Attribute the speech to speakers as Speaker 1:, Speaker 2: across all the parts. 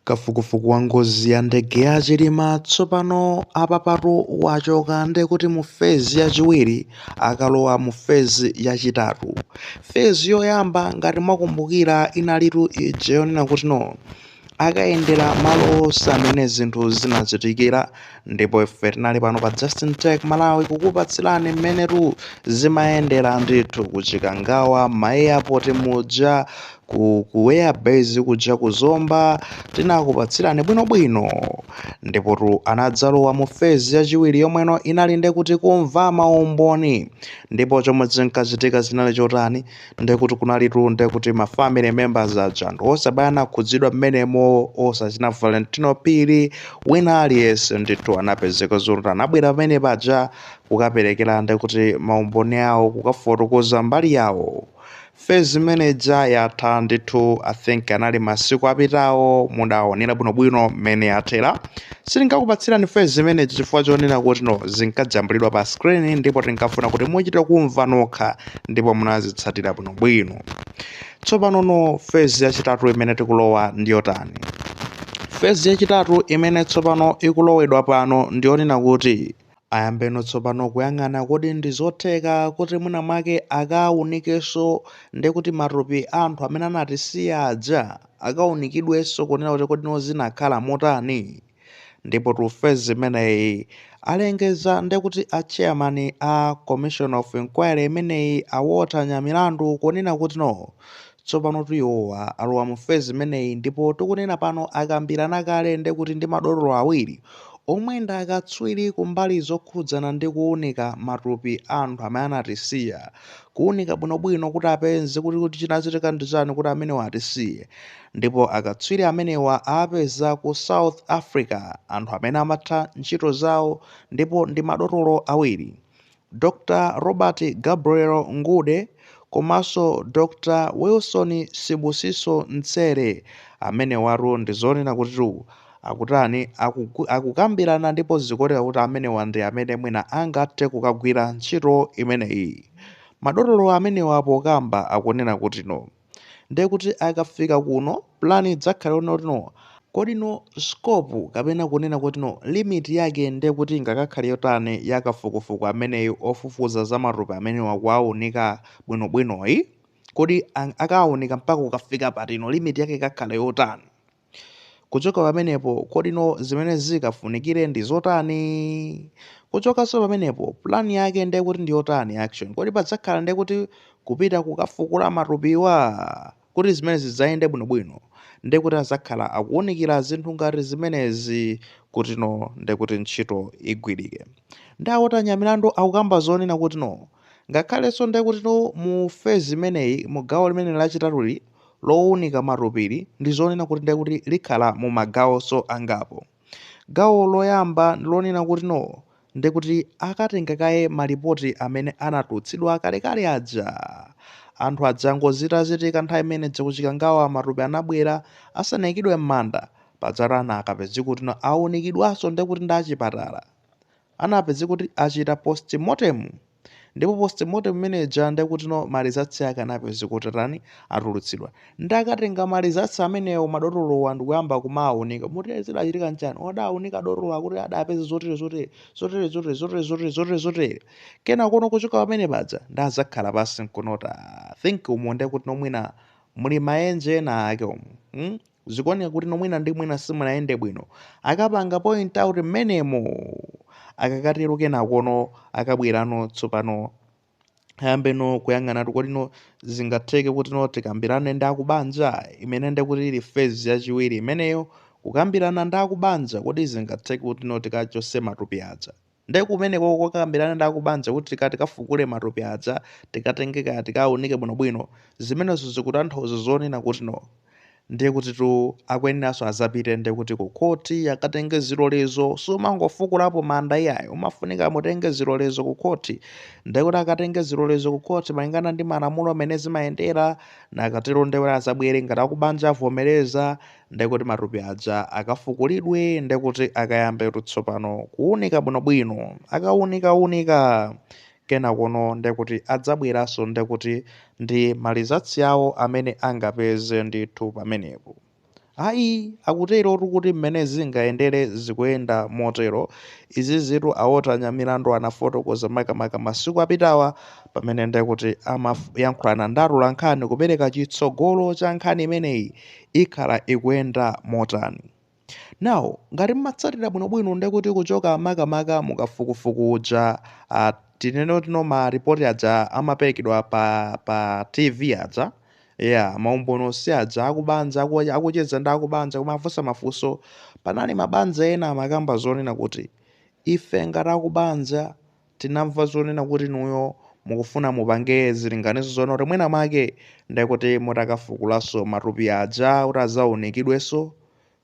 Speaker 1: Kafukufuku wa ngozi ya ndege ya Chilima tsopano apapatu wachoka nde kuti mu phase yachiwiri akalowa mu phase yachitatu. Phase yoyamba ngati mwakumbukira inalitu ija yonena kuti no akayendera malo onse amene zinthu zinachitikira ndipo ife tinali pano pa justin tech malawi kukupatsirani mmenetu zimayendera ndithu kuchikangawa maeyapoti muja ku ku airbase kuja ku zomba tinakupatsirani bwinobwino ndipotu anadzalowa mu fezi yachiwiri yomweno inali ndekuti kumva maumboni ndipo chomwe chinkachitika chinali chotani ndekuti kunalitu ndekuti ma family members aja anthu onse amene anakhudzidwa mmenemo osachina valentino phiri wina aliyense ndithu anapezeka zoti anabwera pamene paja kukaperekera ndekuti maumboni awo kukafotokoza mbali yawo fezi imene ija yatha ndithu i think anali masiku apitawo mudaonera bwinobwino mmene yathera sitinkakupatsirani fezi imene ija chifukwa chonena kuti no zinkajambulidwa pa screen ndipo tinkafuna kuti muchite kumva nokha ndipo munazitsatira bwinobwino tsopanono fezi yachitatu imene tikulowa ndi yotani fezi yachitatu imene tsopano ikulowedwa pano ndi yonena kuti ayambeno tsopano kuyang'ana kodi ndi zotheka kuti mwina mwake akaunikenso ndekuti matupi a anthu amene anatisiya aja akaunikidwenso kunena kuti kodi zinakhala motani Ndipotu phase imeneyi alengeza ndekuti a chairman a commission of inquiry imeneyi a Walter Nyamilandu kunena kuti no tsopanotu iwowa alowa mu phase imeneyi ndipo tikunena pano akambirana kale ndekuti ndi madotolo awiri omwe ndi akatswiri kumbali zokhudzana ndi kuunika matupi a anthu amene anatisiya kuunika bwinobwino kuti apeze kuti kodi chinachitika ndi chani kuti amenewa atisiye Ndipo akatswiri amenewa aapeza ku South Africa, anthu amene amatha ntchito zawo ndipo ndi madotolo awiri, Dr Robert Gabriel Ngude komanso Dr Wilson Sibusiso Ntsele. Amenewatu ndi zonena kutitu akutani, aku, akukambirana ndipo zikuoneka kuti amenewa ndi amene mwina angathe kukagwira ntchito imeneyi. Madotolo amenewa pokamba akunena kuti no. ndiye kuti akafika kuno plan idzakhale yonena kuti no kodi no scope kapena kunena kuti no limit yake ndiye kuti ingakakhale yotani ya kafukufuku ameneyu ofufuza za matupi amenewa kuwaunika bwinobwinoyu kodi ang- akawaunika mpaka kukafika patino limit yake ikakhala yotani Kuchoka pamenepo, kodino zimene zikafunikire ndi zotani? Kuchokanso pamenepo, plan yake ndiye kuti ndi yotani action? Kodi padzakhala ndiye kuti kupita kukafukula matupiwa? Kuti zimene zidzayende bwinobwino, ndiye kuti adzakhala akuunikira zinthu ngati zimenezi kutino ndiye kuti ntchito igwirike. Ndi a Walter Nyamilandu akukamba zonena kutino, ngakhalenso ndiye kutino mu phase imeneyi, mu gawo limene lachitatuli, lowunika matupili ndi zonena kuti ndiye kuti likhala mu magawonso angapo. Gawo loyamba ndi lonena kuti no. Ndiye kuti akatenga kaye malipoti amene anatulutsidwa kalekale aja. Anthu aja ngozi itachitika nthawi imene ija ku Chikangawa matupi anabwera asanaikidwe m'manda, pajatu anakapezeka kuti no awunikidwanso ndiye kuti ndi achipatala. Anapezeka kuti achita postmortem. ndipo postmortem imene ija ndekutino ma results ake anapezeka kuti atani atulutsidwa ndakatenga ma results amenewo madotolowa ndikuyamba kumawunika moti zidachitika n'chani odawunika dotolo akuti adapeza zotere zotere zotere zotere zotere zotere zotere zotere kenakono kuchoka pamene paja ndazakhala pansi n'kuyamba ku-think umo ndekutino mwina muli maenje ena ake umo hmm? Zikuoneka kutino mwina ndi mwina simunayende bwino. Akapanga point out mmenemo! Akakatero kenakono akabwerano tsopano ayambeno kuyang'anatu kodino zingatheke kutino tikambirane ndi akubanja imene nde kuti ili phase yachiwiri imeneyo kukambirana ndi akubanja kodi zingatheke kutino tikachotse matupi aja Nde kumeneko kokakambilana ndi akubanja kuti tika tikafukule matupi aja tikatenge kaye tikaunike bwino bwino zimenezo zikutanthauza zonena kuti no ndiye kutitu akuyeneraso azapite ndiye kuti ku khoti akatenge zilolezo sumangofukulapo manda iyayi umafunika mutenge zilolezo ku khoti ndiye kuti akatenge zilolezo ku khoti malingana ndi malamulo a mmene zimayendera nakatero ndiye kuti azabwere ngati akubanja avomereza ndiye kuti matupi aja akafukulidwe, ndiye kuti akayambetu tsopano kuwunika bwinobwino. Akawunikawunika kenakono ndiye kuti adzabweranso ndiye kuti ndi malizatsi awo amene angapeze ndithu pamenepo. Ayi, akuterotu kuti mmene zingayendere zikuyenda motero. Izizitu a Walter Nyamilandu anafotokoza makamaka masiku apitawa pamene ndiye kuti amayankhulana ndi atolankhani kupereka chitsogolo cha nkhani imeneyi ikhala ikuyenda motani. Now, ngati mmatsatira bwinobwino ndekuti kuchoka makamaka mukafukufuku uja uh, tinene kuti no ma report aja amaperekedwa pa pa TV aja yeah maumboni onse aja akubanja aku, akucheza ndi akubanja kumawafunsa mafunso panali mabanja ena amakamba zonena kuti ife ngati akubanja Tinamva zonena kuti inuyo mukufuna mupange zilinganizo zoona kuti mwina mwake ndiye kuti mutakafukulanso matupi aja kuti adzaunikidwenso,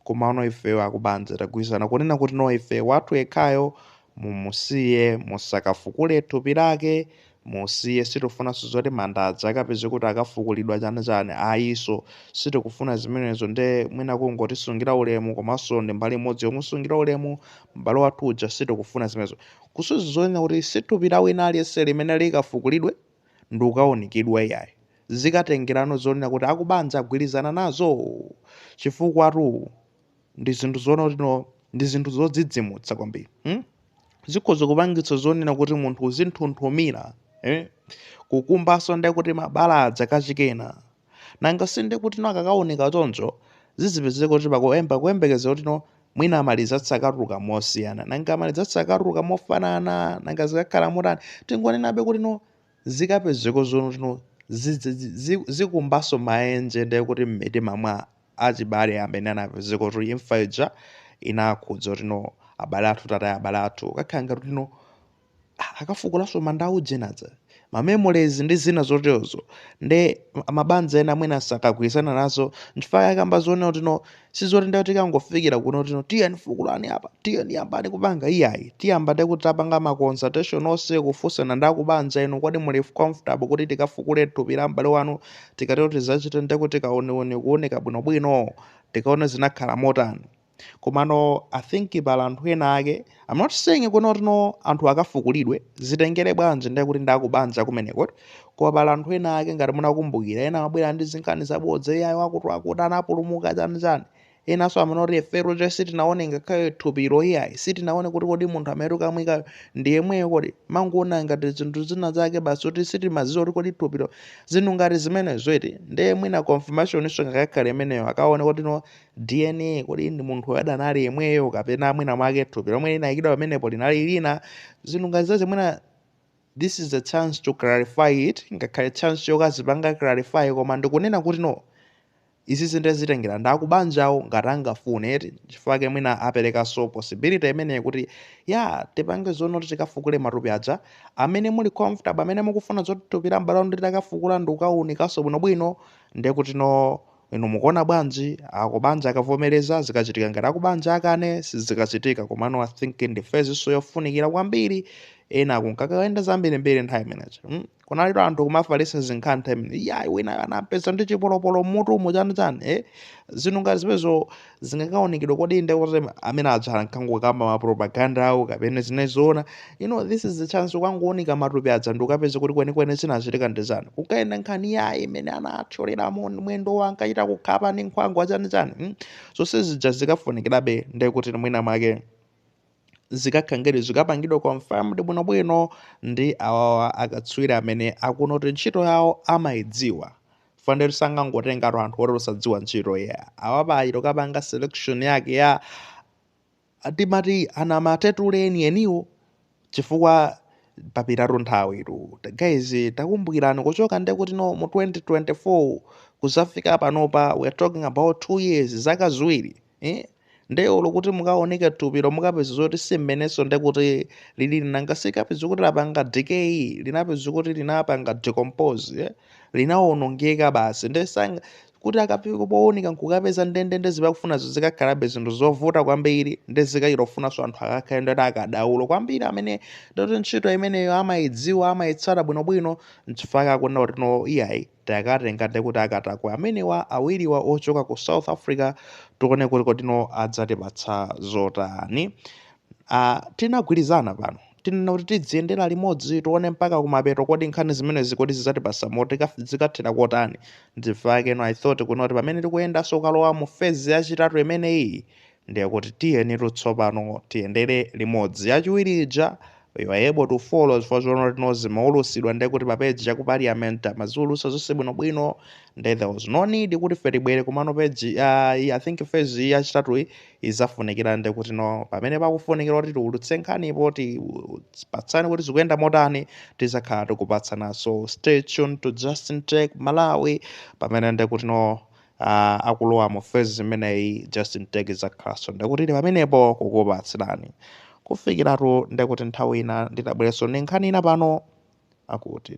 Speaker 1: komano ifeyo akubanja tagwirizana kunena kuti no ife wathu yekhayo mumusiye musakafukule thupi lake, musiye sitikufunanso zoti manda aja akapezeke kuti akafukulidwa chani chani ayiso sitikufuna zimenezo nde mwina kungotisungira ulemu komanso ndi mbali imodzi yomusungira ulemu m'bale wathu uja sitikufuna zimenezo. Kusuzi zonena kuti si thupi la wina aliyense limene likafukulidwe ndikukaunikidwa iyayi. Zikatengerano zonena kuti akubanja agwirizana nazo? Chifukwatu ndi zinthu zoona kuti no ndi zinthu zodzidzimutsa kwambiri. Hmm? Zikhoza kupangitsa zonena kuti munthu uzinthunthumira. Eh? Kukumbanso ndiye kuti mabala aja kachikena. Nanga si ndiye kutino akakaoneka choncho, zizipezeka kuti pakuyemba kuyembekezera kutino mwina ma results akatuluka mosiyana, nanga ma results akatuluka mofanana, nanga zikakhala motani, tingonenabe kutino zikapezeka zoona kutino zidzi dzi zi zikumbanso maenje ndiye kuti m'mitima mwa achibale amene anapezeka kuti imfa ija inakhudza kutino abale athu, tataya abale athu, kukakhala ngati kutino. akafukulanso manda a ujeni aja, ma memories ndi zina zoterozo nde mabanja ena mwina sakagwirizana nazo nchifukwa chake akamba zonena kuti no sizoti nde tikangofikira kuno kuti no tiyeni fukulani apa tiyeni yambani kupanga iyayi tiyamba nde kuti tapanga ma consultation onse kufunsana ndi akubanja inu kodi muli comfortable kuti tikafukule thupi la m'bale wanu tikatero tikachite nde kuti kauniuni kuunika bwinobwino tikaone zinakhala motani komano i think pali anthu ena ake i'm not saying kuti no anthu akafukulidwe zitengere bwanji ndiye kuti ndakubanja kumeneko koma pali anthu ena ake ngati munakumbukira ena amabwera ndi zinkhani zabodza iyayi akuti akuti anapulumuka chani chani enanso amanena kuti ife olo che sitinaone ngakhale thupilo iyayi sitinaone kuti kodi munthu amene tikamwikayo ndi yemweyo kodi mangoona ngati zinthu zina zake basi kuti sitimaziwa kuti kodi thupilo zinthu ngati zimenezo iti ndiye mwina confirmationinso ingakakhale imeneyo akaone kuti no DNA kodi ndi munthu uyu analidi yemweyo kapena mwina mwake thupi lomwe linayikidwa pamenepo linali lina zinthu ngati zazi mwina this is a chance to clarify it ingakhale chance yokazipanga clarify koma ndikunena kuti no izi zinthu zitengera ndi akubanjawo ngati angafune eti chifukwa ake mwina aperekanso possibility imeneyi kuti ya tipange zoona kuti tikafukule matupi aja amene muli comfortable amene mukufuna zoti thupi la m'bale wanu titakafukula ndi kukawunikanso bwinobwino ndiye kuti no Inu mukuona bwanji? Akubanja akavomereza zikachitika ngati akubanja akane sizikachitika komano I think ndi phase'nso yofunikira kwambiri eya kunkakayenda zambirimbiri nthawi imeneyo mm? kunalitu anthu kumafalitsa zinkhani nthawi imene ija yayi winayo anampeza ndi chipolopolo mmutumu chani chani eh? zinthu ngati zimenezo zingakaonekedwa kodi nde kuti amene aja ankangokamba ma propaganda awo kapena zinali zoona you know this is the chance kukangoonika matupi aja ndi kukapeza kuti kwenikweni zinachitika ndi chani kukayenda nkhani iyayi imene anathyolera mu- mwendo wa ankachita kukhapa ndi nkhwangwa achanichani mm? zonse zija zikafunikirabe nde kuti mwina mwake zikakhalangidi zikapangidwa confirmed bwinobwino ndi awawa akatswiri amene akuona kuti ntchito yawo amayidziwa chifukwa ndithu sangangotengatu anthu oti osadziwa ntchito yawo apa ayi atakapanga selection yake ya timati anamatetule eniweniwo chifukwa papitatu nthawi tu Ta- guys takumbukirani kuchoka nde kuti no mu 2024 kuzafika panopa we are talking about 2 years zaka ziwiri eh? nde olo kuti mukaonike thupilo mukapeza zoti si mmenenso nde kuti lilili nanga si mukapeza kuti lapanga decay linapeza kuti linapanga decompose eh? linawonongeka basi nde si nanga kuti akafika poonika nkukapeza ndendende zimene akufunazo zikakhalabe zinthu zovuta kwambiri ndi zikuyenera kufunanso anthu akakhale ndoti akadaulo kwambiri amene ndoti ntchito imeneyo amayidziwa amayitsata bwinobwino nchifukwa akunena kuti no iyayi takatenga ndekuti akatakwe amenewa awiriwa ochoka ku south africa tione kuti kodi no adzatipatsa zotani uh, tinagwirizana pano tinena kuti tidziyendera limodzi tione mpaka kumapeto kodi nkhani zimenezi kodi zidzatipatsa moti kaf- zikathera kotani ndiye panono i thought kuti no pamene tikuyendanso kukalowa mu fezi yachitatu imeneyi Ndiye kuti tiyenitu tsopano tiyendere limodzi. Yachiwiri ija, we were able to follow chifukwa choona kuti no zimaulusidwa ndiye kuti pa page ya ku parliament amaziulusa zonse bwinobwino ndiye there was no need kuti ife tibwere komano page ya i I think phase iyi yachitatuyi izafunikira ndiye kuti no pamene pakufunikira kuti tiulutse nkhanipo tipatsane kuti zikuyenda motani tizakhala tikupatsana so stay tuned to Justin Tech Malawi pamene ndiye kuti no uh, akulowa mu fezi imeneyi justin tech izakhalaso ndekuti ili pamenepo kukupatsirani kufikiratu ndekuti nthawi ina ndidzabwereso ndi nkhani ina pano akuti